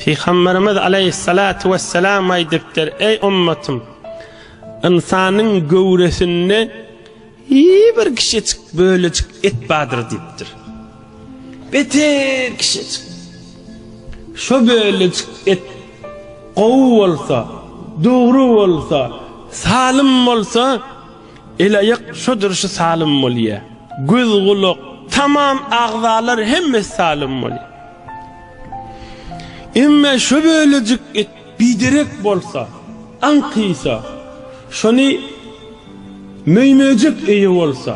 Pygamberimiz aleyhissalatu vesselam aýdypdyr, eý ummatym, ynsanyň göwresinde bir kişicik bölejik et bardyr diýipdir. Beter kişicik. Şu bölejik et gowy bolsa, dogry bolsa, salym bolsa, El-aýak şo durşy salym bolýa. Göz-gulak, tamam agzalar hemmesi salym bolýa. Emma şo bölejik et biderek bolsa, aňkysa, şony möý-möjek eýe bolsa,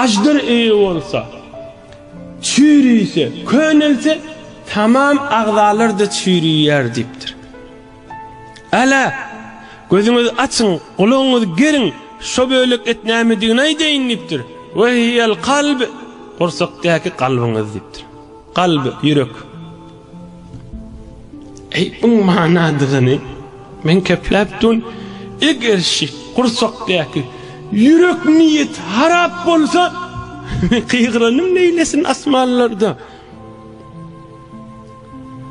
aždar eýe bolsa, çüýrüse, könelse, tamam agzalar-da çüýrüýär diýipdir. Ala, gözüňizi açyň, gulagyňyzy geriň, şo bölek et nämedigini aýdaýyn diýipdir. Ve hiyel kalb, gursakdaky kalbyňyz diýipdir. Kalb, ýürek. Eý, buň manadygyny men kepläp dun, eger şi gursakdaky ýürek niýet harap bolsa, men gygyranym neýlesin asmanlarda.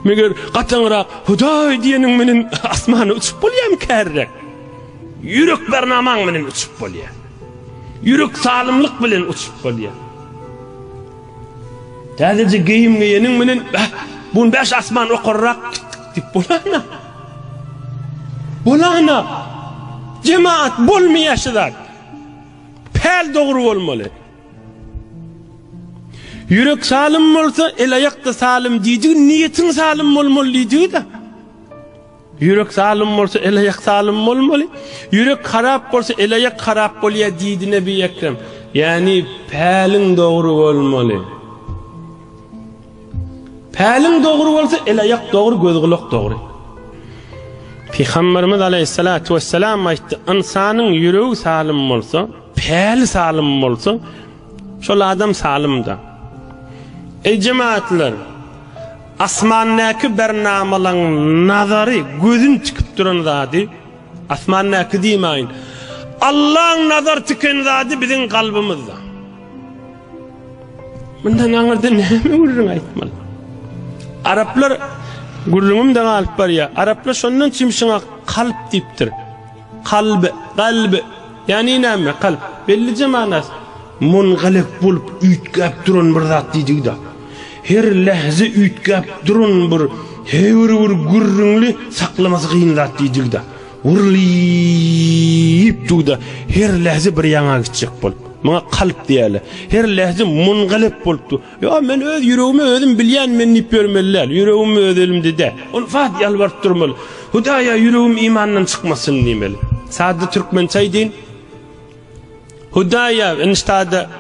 Meger gatyňrak Hudaý diýeniň menen asmana uçup bolýarmy kärräk? Ýürek bernamaň menen uçup bolýar. Ýürek salymlyk bilen uçup bolýar. Täzeje geýim geýeniň menen, bäh, bu bäş asman okarrak diýip bolana. Bolana. Jemaat bolmaýar şu zat. Päl dogry bolmaly. Ýürek salym bolsa, el-aýak-da salym diýdigi niýetiň salym bolmaly diýdigi-dä. Ýürek salym bolsa, el-aýak salym bolmaly. Ýürek harap bolsa, el-aýak harap bolýar diýdi Nebi Ekrem. Ýagny päliň dogry bolmaly. Päliň dogry bolsa, el-aýak dogry, göz-gulak dogry. Pygamberimiz aleyhissalatu vesselam aýtdy, ynsanyň ýüregi salym bolsa, Päli salym bolsa, şol adam salym-da. Eý jemaatlar! Asmandaky bernamalaň nazary, gözün tikip duran zady, asmandaky diýmäýin, Allaň nazar tiken zady biziň kalbymyzda. Mundan aňyrda näme gürrüň aýtmaly? Araplar gürrüňim-de galyp barýar. Araplar şondan çimşiňe kalp diýipdir. Kalb, galb, ýagny näme? Kalp, bellije manasy. Mungalyk bolup üýtgäp duran bir zat diýdigi-de. Her lähze üýtgäp duran bir, hebir bir gürrüňli, saklamasy kyn zat diýdigi-de. Wurlyp durup-da, her lähze bir ýaňa gitjek bolup. Muňa kalp diýýärler. Her lähze mungalyk bolup dur. Ýok, men öz ýüregimi özüm bilýän, men diýip ýörmeli däl. Ýüregim öz elimde-de. Ol wagt ýalbaryp durmaly. Hudaýa ýüregim imandan çykmasyn diýmeli. Sada türkmençe aýdyn. Hudaýa, eniştada,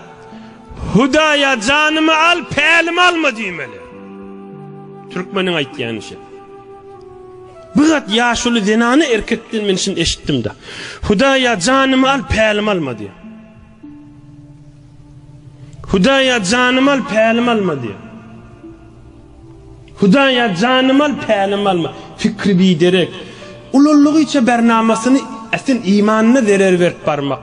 Hudaýa janymy al, pälimi alma diýmeli. Türkmeniň aýtýany şe. Bu zat ýaşuly zenany erkekden men şini eşitdim-de. Hudaýa janymy al, pälimi alma diýýär. Hudaýa janymy al, pälimi alma diýýär. Hudaýa janymy al, pälimi alma. Pikri biderek, ululygyça bernamasyny ätin imanyna zerer berip barmak.